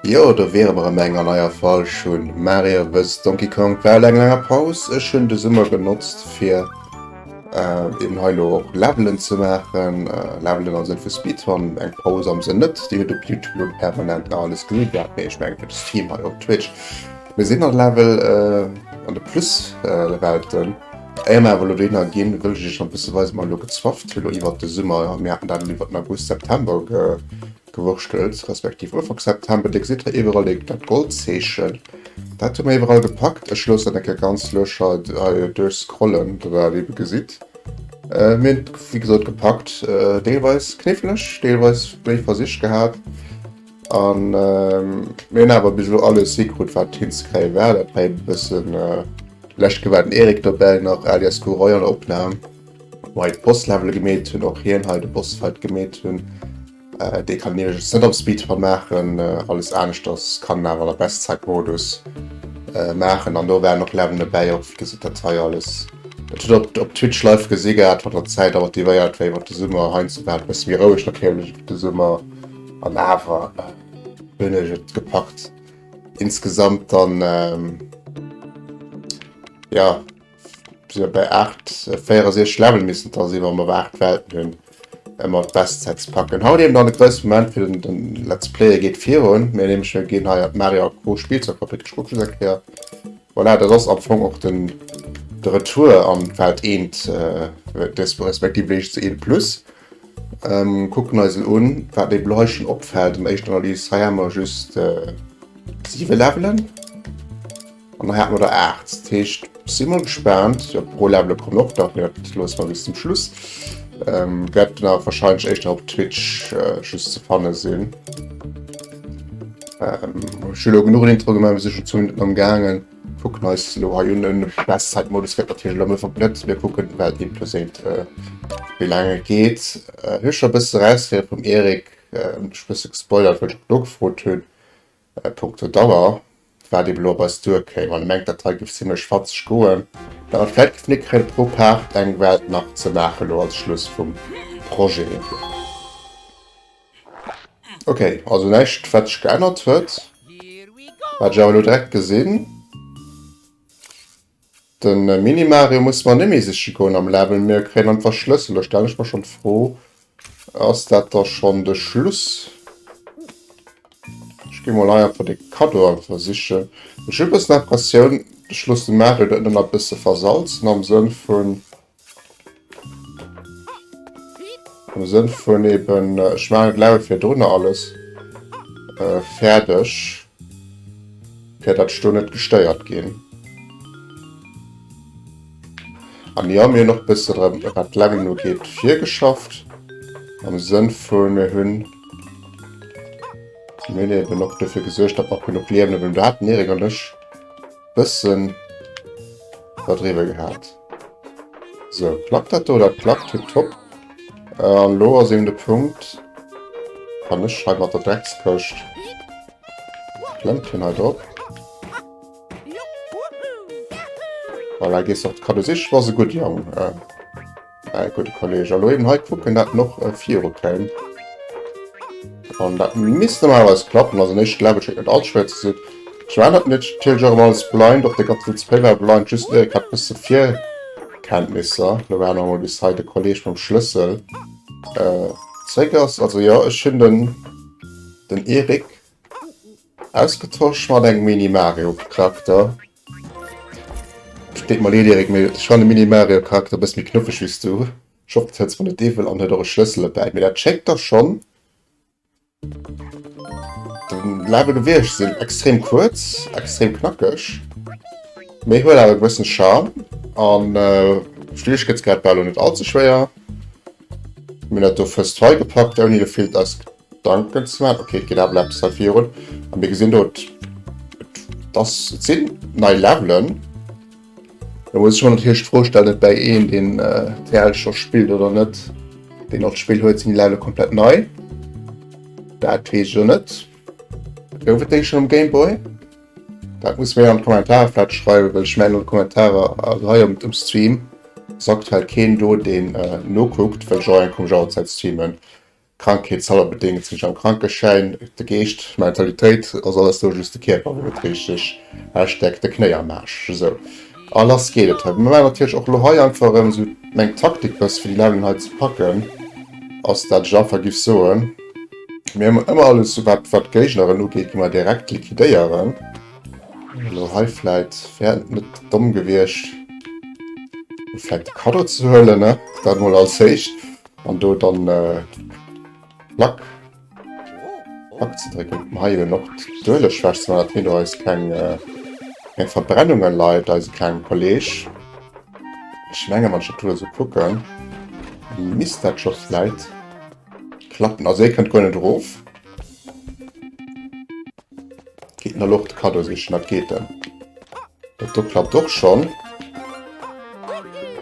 Jo do wiere mer erëm eng an eier Fall schonn. Marie wësst Donkey Kong war eleng langer Paus. Ech hunn de Summer genotzt fir. Äh, eben hei lo och Levelen ze maachen, äh, Levelen am Sënn vu Speedrun, eng Paus am Sënn net, déi huet op YouTube lo permanent nach alles genee gehat, mee ech mengen fir de Stream hei op Twitch, mir sinn an Level äh, an de Plus-Welten. Éier mer awer elo dohinner ginn, wëll ech iech nach e bësse weisen, wat mer elo gezwafft hu lo iwwert de Summer. Mir haten dat elo iwwert den August, September ge Gewurschtels, respektiv Ufank September, Dir gesitt hei iwwerall dee, dat Goldzeechen. Dat hu mer iwwerall gepackt. Ech loossen dat eng Kéier ganz lues hei, hei duerchscrollen, datt Der dat ebe gesitt. Mir hunn et, wéi gesot, gepackt. Deelweis kniffleg, deelweis méi Versich gehat. A mir hunn awer bis elo alles hikrut, wat hinzekréie war. Dat war ebe e bëssen lech gewaart, den Eric dobäi nach, alias Gouroy, an der Opnam. Wei d'Boss Levele gemeet hunn, och hien hei de Boss Fight gemeet hunn, dee kann een iwwerregens net op Speedrun maachen, alles aneschters kann een awer an der Best Zeit Modus maachen an do waren och Levelen dobäi, och wéi gesitt dat hei alles, dat hutt der op Twitch live gesi gehat, wann der d'Zäit awer motivéiert wéi iwwert de Summer, heiansdo war et e bësse méi roueg natierlech iwwert de Summer an awer hunn ech et gepackt insgesamt dann jo. Sinn op der 8 64 Level missen da si mer mat 8 Welten hunn ëmmer d'Bestsets packen. Haut eben an de grousse Moment fir den, den Let's Player geet virun. Mir nämlech mir ginn hei Mario Pro Spielzeug Fabrik Schmuckels erkläer. Voilà, dat ass am Fong och den de Retour an Welt 1 äh, des respektiv Wege zu 1 plus. Ähm, kucken eisen un, wat mir bleichen opfält. Am éischt Analyse hei ha mer just äh, 7 Levelen. An da hat mer der 8. Dat heescht, si mol gespaant. Jo, d'Pro-Levele kommen och nach, mee dat loosse mer bis zum Schluss. Wäert dann awer warscheinlech éischter op Twitch just ze fanne sinn. Ech hu lo genuch en Intro gemaach, mir si schonn zwou Minutten amgaangen. Kucken eis elo hei un. Den Echtzeitmodus gëtt natierlech elo méi verblëtzt. Mir kucken, wat deem do seet, wéi laang e geet. Ech hu scho e bësse erausgehale vum Erik, ech hu e bësse gespoilert, well ech och do gefrot hunn. A punkto Dauer waart eben op eis duerkéim, an mengt dat hei géif zimlech fatzeg goen, dat vläit géifen ee kréien pro Paart eng Welt nach ze maachen elo als Schluss vum Projet. Ok, also näischt wat sech geännert huet wat ech awer elo direkt gesinn. Den Mini Mario muss mer nemmi sichen goen am Level mir kréien einfach Schlëssel. Da stellen ech mer schon d'Fro, ass dat da schon de Schluss? Ech ginn mol hei einfach de Cadeau einfach sichen. Ech hunn e bëssen Impressioun, ech loossen de Mario dat nëmmen e bësse versalzen am Sënn vun Am Sënn vun eben, äh, ech maachen d'Level fir drunner alles äh, fäerdeg, fir datt ech do net gestéiert ginn. An jo, mir hunn och bëssen drëm, wat d'Leveln ugeet, virgeschafft. Am Sënn vu mir hunn, mir hunn eben och dofir gesuergt, datt mer genuch Liewen hunn. Do haten Erik an ech bëssen iwwerdriwwe gehat. So, klappt dat do? Dat klappt tipptopp. Äh, an lo ass eben de Punkt. Kann ech hei mat der Dreckskëscht. Klemmt hin hei drop. Voilà, gehst auf Kado sich, war se gut Jong. Äh, äh, gute Kollege. Lo eben hei gucken, dat noch äh, vier kämen. An dat misst normalerweise klappen, also nicht, glaube ich, alt schwer zu sehen. D'Joanette Nitsch zielt sech erëm als Blind op, de Gattfried Spey war blind, just Eric hat bësse Virkenntnisser, elo waarde mer emol bis hei de Kolleeg mam Schlëssel zeréck ass. Also jo, ech hunn den Eric ausgetosch mat engem Mini-Mario-Charakter. Deet mer leed Eric, mee ech fannen de Mini-Mario-Charakter e bësse méi knuffeg wéi s du. Ech hoffen, et hëlls mer net iwwel an huet och e Schlëssel dobäi, mee dat schéngt da schonn Den Lave de Vierge sinn extrem kuerz, extrem knackeg. Méi huet awer e bëssen Charme an äh, Schwierigkeitsgrad war net allze schwéier. Mir net do first try gepackt ouni de Filt aus Gedanken ze machen. Okay, geht aber etwas dafür run. Und wir gesehen dort, das sind neue Levelen. Da muss ech mer natierlech d'Fro stellen, ob däi een, deen d'TEL scho spillt oder net, deen och d'Spill huet. Sinn déi Level komplett nei? Dat weess ech jo net. Gouf et déi schonn um Gameboy? Dat musst mir an d'Kommentare vläicht schreiwen, well ech mengen un d'Kommentare, also hei um um Stream ass aktuell keen do, deen nokuckt, well ech och eng komesch Auerzäit streamen. D'Krankheet selwer bedéngt sech am Krankeschäin, de Geescht, d'Mentalitéit ass alles do, just de Kierper wou et richteg usteckt, de Knéi am Aarsch. Esou. A lass geet et hei. Mir maachen natierlech och elo hei einfach erëm esou meng Taktik bëss fir déi Launen hei ze packen, ass dat ech einfach giff soen, mir hu ëmmer alles esou wat wat d'Géigneren ugeet gi mer direkt liquidéieren. Elo hei vläit wär et net domm gewiescht vläit de Kaddo ze huelen, ne? Dat emol als éischt. An do dann Plack Plack ze drécken. Mir ha jo nach d'Ueleschwächt, mä dat heet och eis keng keng Verbrennunge leit eise klenge Kolleg. Ech menge wann ech dat do esou kucken, misst dat scho vläit klappen. Also hie kënnt guer net erof. Geet nach och d'Kaddo sichen, dat geet dann. Dat do klappt och schon.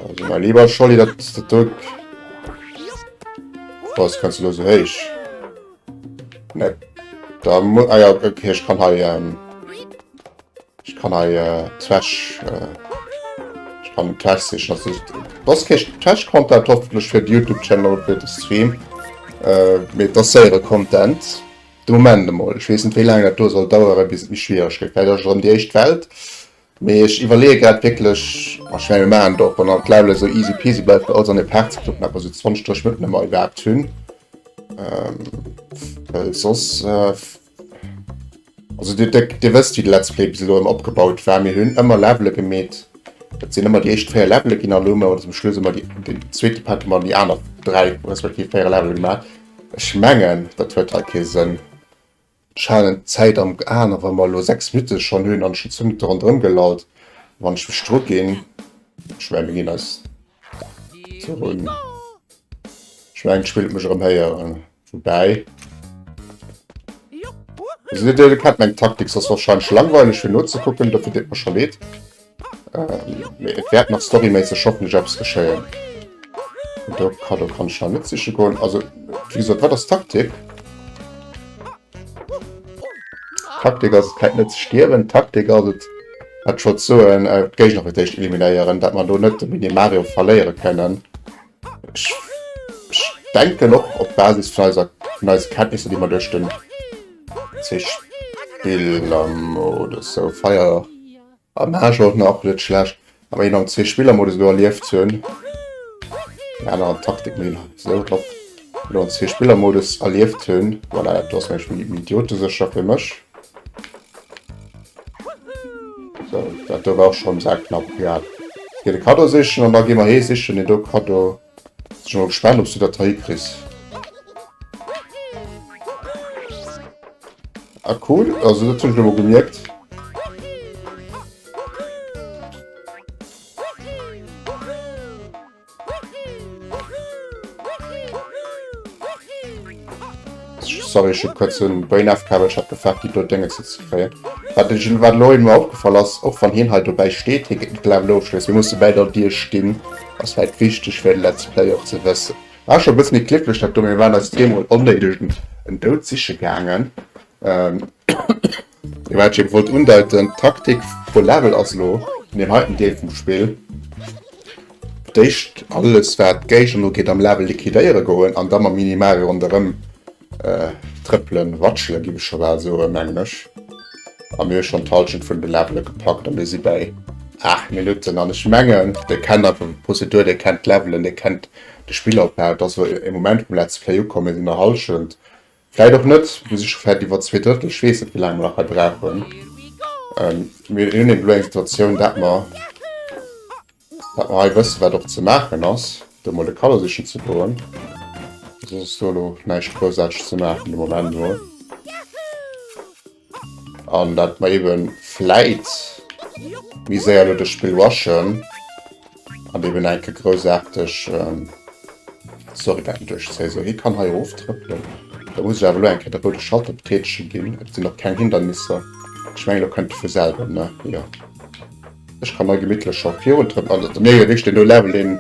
Also mein lieber Scholli, dat do... Was kannst du da so héich? Ne. Da muss... Ah ja, okay, ich kann hei... Ähm, ich kann hei äh, Trash... Äh, ich kann Trash sichern. Also, was krieg ich Trash Content hoffentlich für den YouTube-Channel, für den Stream. Äh, mit das selbe Content. De Moment emol. Ech weess net, wéi laang dat do soll daueren, bis et méi schwiereg gëtt. Vläicht ass et erëm déi éischt Welt. Mee ech iwwerleeë grad wierklech, ma ech mengen, mir maachen et och, wann all d'Level esou easy peasy bleift, fir alles an ee Paart ze kloppen, awer esou 20, 30 Minutten hu mer iwwerhaapt hunn. Well soss, also Dir, Dir wësst, wéi de Let's Play bis elo ëmmer opgebaut war. Mir hunn ëmmer Levele gemeet. Dat sinn ëmmer déi éischt véier Levele ginn, an elo hu mer zum Schluss ëmmer déi, den zweete Part hu mer an déi aner dräi respektiv véier Levele gemaach. Ech mengen dat huet hei kee Sënn. Ech halen d'Zäit am Aen a wa mer elo 6 Minutte schonn hunn an schonn zwou Minutte ronderëm gelallt, wann ech mech druginn, ech mengen mir ginn eis zerunn, ech mengen d'Spill huet mech erëm héieren, woubäi elo kennt meng Taktik, se ass warscheinlech langweileg fir nozekucken, dofir deet mer scho leed. Ähm, et wärt nach storyméisseg hoffnech eppes geschéien. Do Kado kann ich nach net siche goen. Also wie gesagt, wat ass Taktik? Taktik ass kräit net ze stierwen. Taktik ass et wat scho zoen äh, Géigner fir d'éischt eliminéieren, dat man do net de Mini Mario verléiere kënnen. Ich, ich denken och op Basis vun eiser vun eise Kenntnisse, déi man duerch den Zespill am oder so Feier Am Match war et nach net schlecht, awer een am zwee Spiller Modus elo erlieft ze hunn, eng aner Taktik méi esou drop, elo am zwee Spiller Modus erlieft ze hunn, voilà dat ass mengen ech méi idiotesécher fir mech. Sou, dat do war och schonn um Sak knapp. Egal, ech gehe de Kaddo sichen an da gi mer hee sichen, deen do Kaddo. Sinn ech mol gespaant obs du dat hei kriss. Ah cool, also dat hunn ech elo gemierkt. Sorry ech hunn kuerz den Brain ofkabelt, ech hat gefaart déi blo Déngens hei ze kréien. Wat ech wat elo emol opgefall ass, och wann hien hei dobäi steet, hie kritt net de blauen Ofschloss, mir musse bäi der Dier stinn Ass vläit wichteg fir de Let's Play och ze wëssen. War scho e bëssen méi glécklech dat do, mee waren eis zweemol onnéideg en Doud siche gaangen. Ee wat ech eben wollt undeiten, d'Taktik pro Level ass elo an deem heiten Deel vum Spill d'éischt alles wat d'Géigner ugeet am Level liquidéiere goen an da mam Mini-Mario ronderëm Äh, trëppelen, watschelen giff ech scho bal soen, mengen ech. A mir hu schonn d'Halschent vun de Levele gepackt a mir si bäi 8 Minutten. An ech mengen, dee kennt einfach eng Prozedur, dee kennt d'Levelen, dee kennt de Spillopbau. Et ass elo e Moment vum Let's Play ukomm, mir sinn bei Halschent, vläit och net, mir si scho wäit iwwer zwee Drëttel, ech weess net, wéi laang mer nach hei brauchen. Mir hunn elo eng Situatioun, dat mer. Wat mer hei wëssen, wat och ze maachen ass, do mol e Kaddo sichen ze goen, soss ass do elo näischt Groussarteges ze maachen de Moment mol. An dat mer ebe vläit méi séier elo dëst Spill rushen an eben eng Kéier groussarteg Story wäerten duerchzéien. Esou, hie kann hei eroftrëppelen. Da muss ech awer elo eng Kéier de roude Schalter betätege ginn. Et sinn och keng Hindernisser. Ech mengen, elo kënnt e vu selwer, ne? Jo. Ech kann mei gemittlech scho virun d'Rënn ansetzen. Nee, wéi ech deen do Level, deen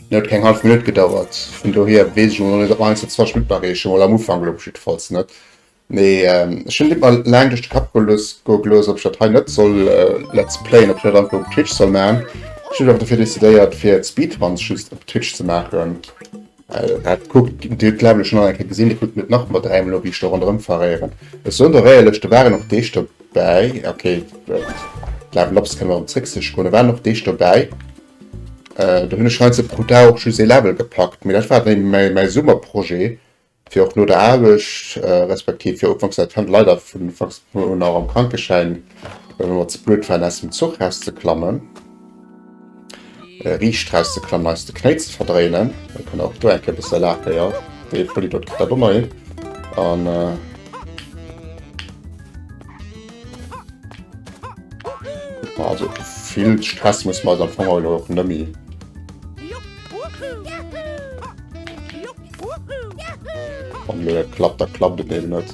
huet keng hallef Minutt gedauert, vun dohier weess ech elo nach net, ob mer heiansdo 20 Minutt erreechen, mol am Ufank elo op jiddefalls net. Mee ech hunn et mer laang duerch de Kapp goe gelooss, ob ech dat hei net soll let's playen, ob ech dat einfach op Twitch soll maachen. Ech hunn awer dofir decidéiert, fir d'Speedruns just op Twitch ze maachen. Haat kuckt dir d'Level schon an eng Kéier gesin, dir kuckt net nach mat dräimol no wéi ech do ronderem faréieren. Ech soen der éierlech der waren och Deeg dobäi, ok d'Level ups kënnen erem zréck sech goen, der waren och Deeg dobäi do hun ech scheinst pro Dag och just ee Level gepackt, mee dat war dann mäi Summer Projet fir och no der Aarbecht respektiv fir ufanks dat hunn leider vun ufanks un nach am Krankeschäin well mer ze blöd waren aus dem Zuch rauszeklammen. Äh, riicht draus ze klammen, eis de Knéi ze verdréinen. Dann kann auch do eng Kéier bësse lafe, ja. Dee Pulli dort kritt dat och nach hin. An, äh, Also vill Stress muss man am Fong heulen och nëmmi. An mir klappt, da klappt et eben net.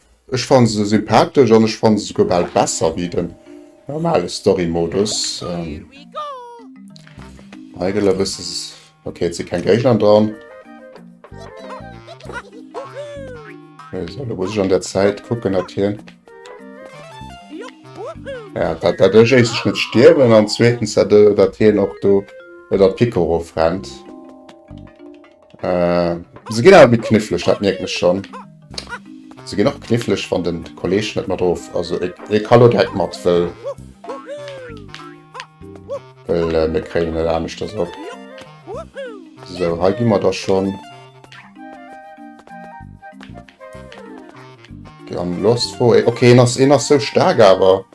Ech fanne se sympathesch an ech fanne se souguer bal besser wéi den normale Story Modus. Hei gëtt ewes okay, et si keng Géigner dran. Esou, da muss ech an der Zäit kucken, datt hien ja, dat, dat ech éischtens net stierwen an zweetens, datt hien och do, datt d'Picoro frennt. Äh, se ginn awer méi kniffleg, dat mierkt mech schon. Se ginn och kniffleg, wann den Kolleg net mat of, also e, e ka lo direkt mat, well well äh, mir kréien net aneschters op. So, hei gi mer da schon. Di an Lost wo, e, okay, en ass, en ass so stark awer,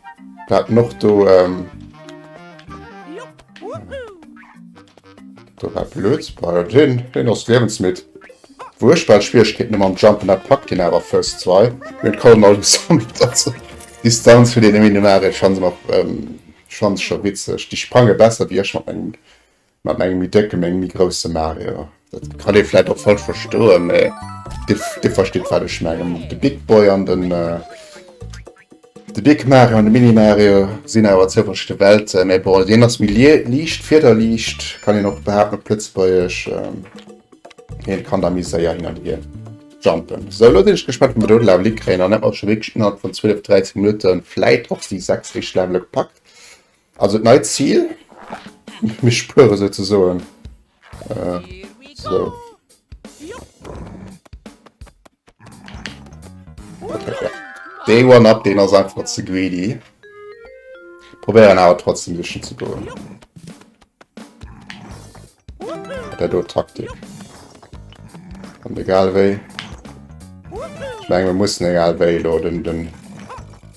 dat noch do, ähm, Do war blöd bei den den ass lebensmitt. Wurschtbar Schwierigkeiten am Jumpen der packt den aber first 2 mit Kolm alles dazu. Distanz für den Minimare fand noch ähm, fand schon witzig. Die sprange besser wie ich mat engem mat engem mi decke meng mi große Mario. Dat kann ee vielleicht auch falsch verstoen, mais de versteht wat ich mengen. De Big Boy an den äh, De Big Mario an de Mini Mario sinn awer zouwënschete Welten, mä bon, deen ass méi liicht, fiederliicht, kann een och behaapten op Lëtzebuergesch. Hien kann da méi séier hin an hier jumpen. So, elo sinn ech gespannt, wat mer do Levele kréien. An dat ass scho wierklech innerhalb vun 12, 13 Minutte vläit och déi 6 éischt Levele gepackt. Also et neit Zil, mir spuere souzesoen. So. Day one up, den ass einfach ze greedy. Probieren awer trotzdem duerchen ze goen. Der do Taktik. An egal wéi. Ich meine, wir müssen egal wéi lo den, den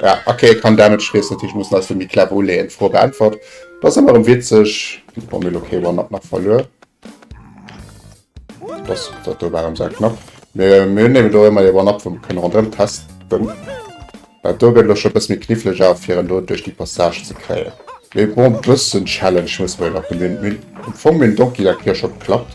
Ja, okay, kann Damage schrees natürlich muss als mir clever uleen froh beantwort das immer um witzig bon, mir okay war nach verlö das dat waren sehr knapp mir mir nehmen do immer war ab vom können run test bin bei do gö schon bis mir knifflig auf hier do durch die passage zu kreen mir bon bisschen challenge muss man nach bemühen vom donkey der kirsch schon klappt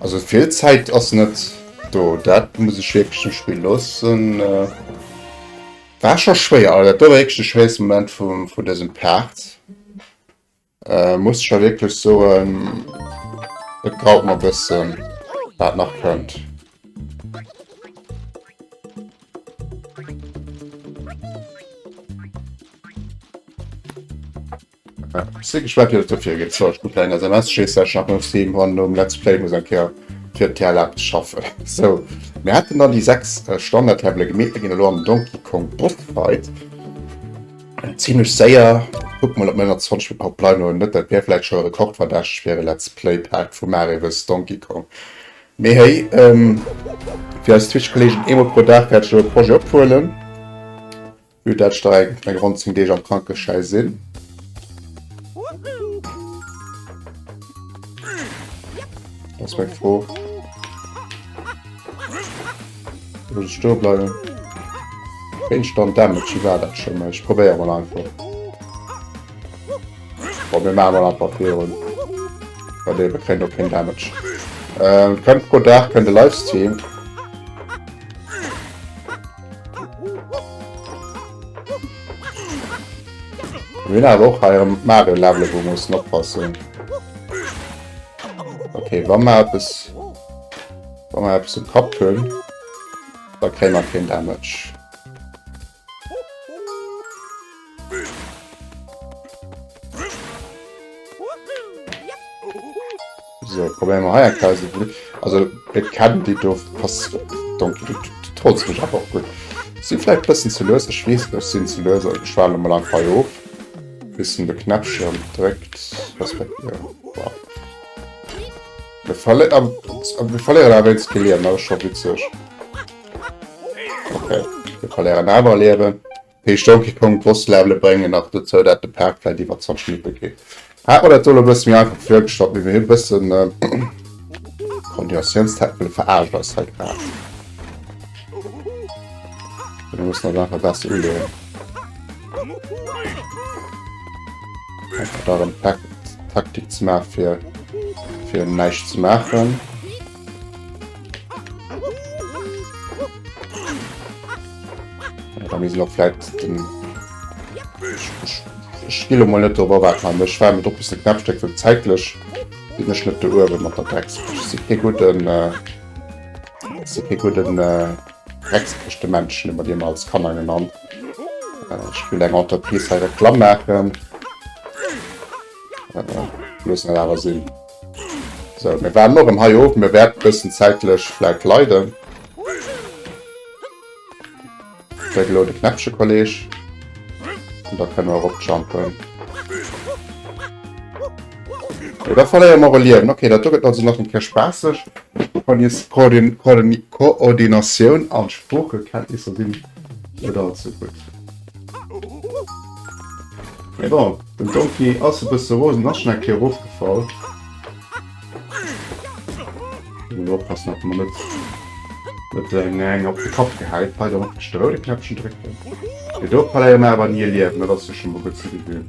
Also vill Zäit ass net do, dat muss ech wirklich dem Spiel lossen. Äh, war schon schwéier, also dat war wirklich de schwéierste Moment vum, vun diesem Part. Äh, muss ech ja wirklich soen, et graut mer bëssen, wat nach kënnt. Ja, ich bin gespannt, wie das dafür geht. So, ich bin kleiner SMS, schießt der Schatten auf Steam und um Let's Play muss ein Kerl für den Teil abzuschaffen. So, wir hatten dann die sechs äh, Standard-Tabelle gemäht, wir gehen am Donkey Kong Boss Fight. Zimlech séier, kuck mol op 29 fir Pipeline un, net dat wär vläit scho e Rekord verdächteg fir e Let's Play Part vu Mario vs Donkey Kong. Mee héi, fir eis Twitch Kolleegen eemol pro Dag wäert ech elo e Projet ophuelen, vue dat ech da eng ronn 10 Deeg am Krankeschäi sinn. Ass meng Fro. Muss ich stehen bleiben? Instant Damage, wie war das schon mal? Ich probiere mal einfach. Boah, wir machen mal einfach Fehlen. Bei dem kriegt auch kein Damage. Ähm, könnt pro Tag, könnt ihr Livestream. Win awer och haier Mario Level wo muss oppassen. Okay, Wa mat es. Wa mer eppes um Kapp hunn, da kréie mer keen Damage. So, probéieren mer hei eng Klausel. Also, et kennen déi do pass. Donk, du trolls mech awer och gutt. Si vläicht bëssen ze lues, ech weess net, ech sinn ze lues, also ech waarde mol einfach hei of, bis en de Knäppchen dréckt, respektiv. Wir verléieren awer eens ke Liewen, dat ass scho witzeg. Okay, wir verléieren awer e Liewen. Heescht Donkey Kong Boss Levele bréngen nach dozou, dat de Park vläit iwwer zerschnippe gétt. Hat mer dat do elo e bësse méi einfach virgestallt, wéi mir hie bësse Continuatiounstech wëlle veraarschen ass hei grad. Mir mussen ass einfach besser uleeën. Einfach darin Takt, Taktik zu machen, für, für nichts zu machen. Ja, da müssen wir vielleicht den Spiel mal nicht darüber warten, aber ich werde mit etwas ein Knappstück für zeitlich. Bin ich nicht der Uhr, wenn man da Drecksfisch. Das ist kein guter, äh, das ist kein guter, äh, Drecksfisch, der Menschen, über den man als Kanner genannt. Äh, ich will eng Entreprise hei Reklamm machen. Äh, bloß net awer sinn. So, mir waren noch im Hai oben, mir werden bisschen zeitlich vielleicht leiden. Der gelode Knäppchen, Kollege. Und da können wir auch jumpen. Ja, da verlieren wir Leben. Okay, da tut also noch ein bisschen spaßig. Von jetzt Koordination an Sprachkenntnisse sind. Net all ze gutt. Mee bon, den Donkey ass e bësse rosen, ass schonn eng Kéier erofgefall. Muss elo oppassen, datt mer net net eng eng op de Kapp gehäit. Hei dann och de roude Knäppchen drécken. Mee do verléiere mer awer ni e Liewen, dat ass jo scho mol gutt ze gesinn.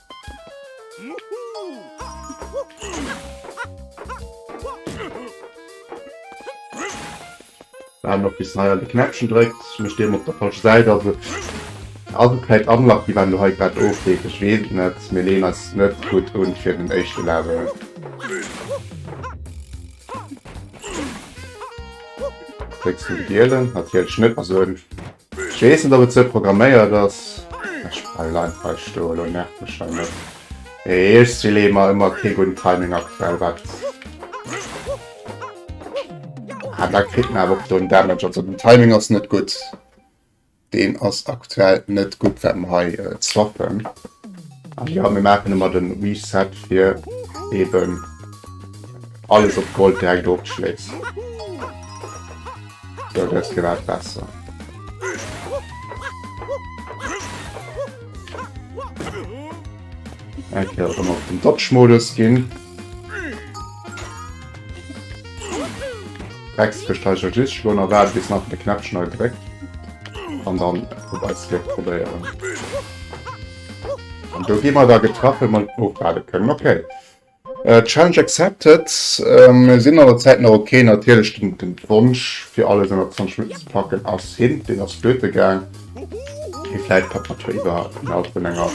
War noch bis hei an de Knäppchen drëckt, mech deem op der falsche Säit ass et agekräit unlocked, déi waren do hei grad ofgeet, ech weess et net, mir leeën eis net gutt un fir den éischte Level. Drécks den gielen, natierlech net esou en Ech wees net op et sou programméiert ass. Ech bleiwen einfach hei stoen, elo nervt mech hei net eech Sylemer, emmer kee gudden Timing aktuell wat. Ah da kritt en awer och do en Damage, also den Timing ass net gutt, deen ass aktuell net gutt wat mer hei swappen. An jo mir maachen emmer den Reset fir eben alles op Gold direkt ofschléisst. Jo, dat gëtt grad besser. Eng Kéier ëmmer op den Dodge-Modus ginn. Rex kriegt halt just schon erwartet bis nach den Knäpp schnell gedrückt und dann vorbei Slip probieren. Und da gehen wir da getroffen und aufladen können. Okay. Challenge accepted. Mir sinn an der Zäit nach ok. Natierlech den Wonsch fir alles ënner 20 Minutten ze packen ass hin, deen ass flöte gaang. Mee vläit packt mat jo iwwer innerhalb vun enger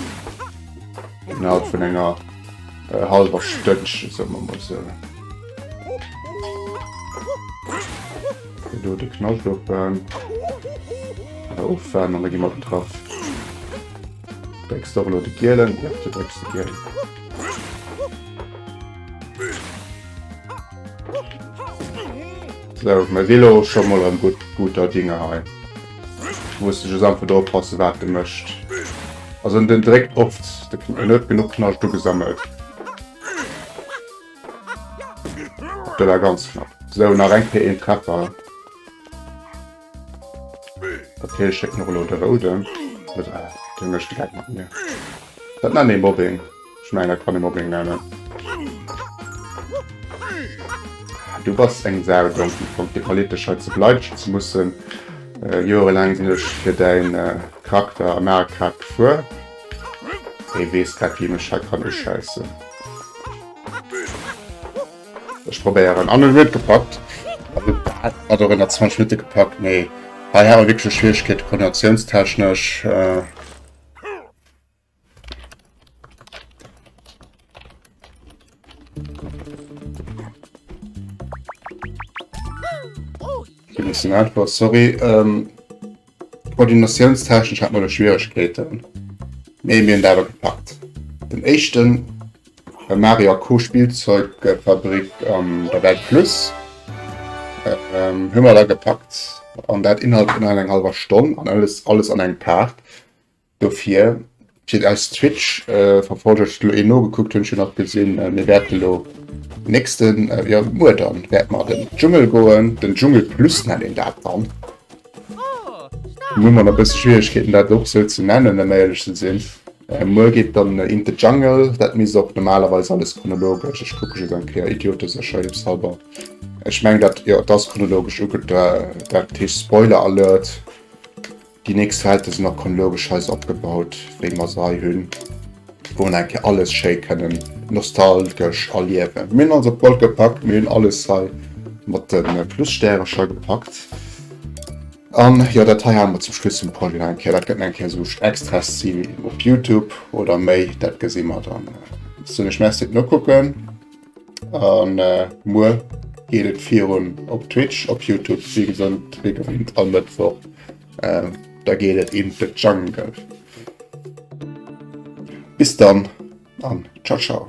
innerhalb vun enger hallwer Stënnchen, soe mer mol sou. Fir do de Knascht op en, oder of en, an da gi mer op d'Trapp. Drécks doch elo de gielen Knëpp, du drécks de gielen. Sou, mir si elo scho mol erëm gutt, guter Dinge hei. Ech muss just einfach do oppassen, wat e mécht. Also den dréckt oft, en huet genuch Knascht ugesammelt. Dat war ganz knapp. Sou, nach eng Kéier een Treffer. Okay, ich schick noch lo de Rouden. Oder den mischt direkt mat mir. Dat nennt ee Mobbing. Ich mein, dat kann ee Mobbing nennen. Du bass eng Sau, Donkey Kong. Dir verleet dech hei ze bleideschen ze mussen. Äh, Joerelaang sinn ech fir däin äh, Charakter am Aer grad gefuer. Ee weess grad, wéi mech hei kann uscheissen. Ech probéieren an en huet gepackt hat och ënner 20 Minutte gepackt mee hei hat mer wierklech Schwieregkeete koordinatiounstechnesch. Sorry. Koordinatiounstechnesch hat mer do Schwieregkeeten, mee mir hunn dat awer gepackt. Den éischten war Mario a Co. Spielzeugfabrik an der Welt Plus. Hunn mer da gepackt an dat innerhalb vun eneng hallwer Stonn an alles alles an engem Part. Dofir, fir eis Twitch-Verfolger, ech elo ee nogekuckt, hunn ech jo nach gesinn, mir wäerte elo nächsten, jo muer dann, wäerte mer an den Dschungel goen, den Dschungel Plus nennt een dat dann. Lo hu mer nach e bësse Schwieregkeeten dat och esou ze nennen, ëm éierlech ze sinn. Muer geet dann in the jungle, dat misst och normalerweis alles chronologesch, ech kucke just eng Kéier idioteserscheifshalber, ech mengen dat, jo et ass chronologesch uge, dat heescht Spoiler Alert, Déi nächst Welten sinn och chronologeschweis opgebaut, wéi mer se hei hunn, wou en eng Kéier alles schéi kënnen nostalgesch erliewen. Mir hunn alles op Gold gepackt, mir hunn alles hei mat de Plusstärecher gepackt. An jo, dat hei hale mer zum Schluss vum Projet nach eng Kéier. Dat gëtt nach eng Kéier esou Extras si op Youtube oder méi, dat gesi mer dann. Soen ech Merci fir d'Nokucken. An äh, muer geet et virun op Twitch, op Youtube, wie gesond, wie gewinnt, all Mëttwoch. Äh, da geet et in the jungle. Bis dann an ciao ciao.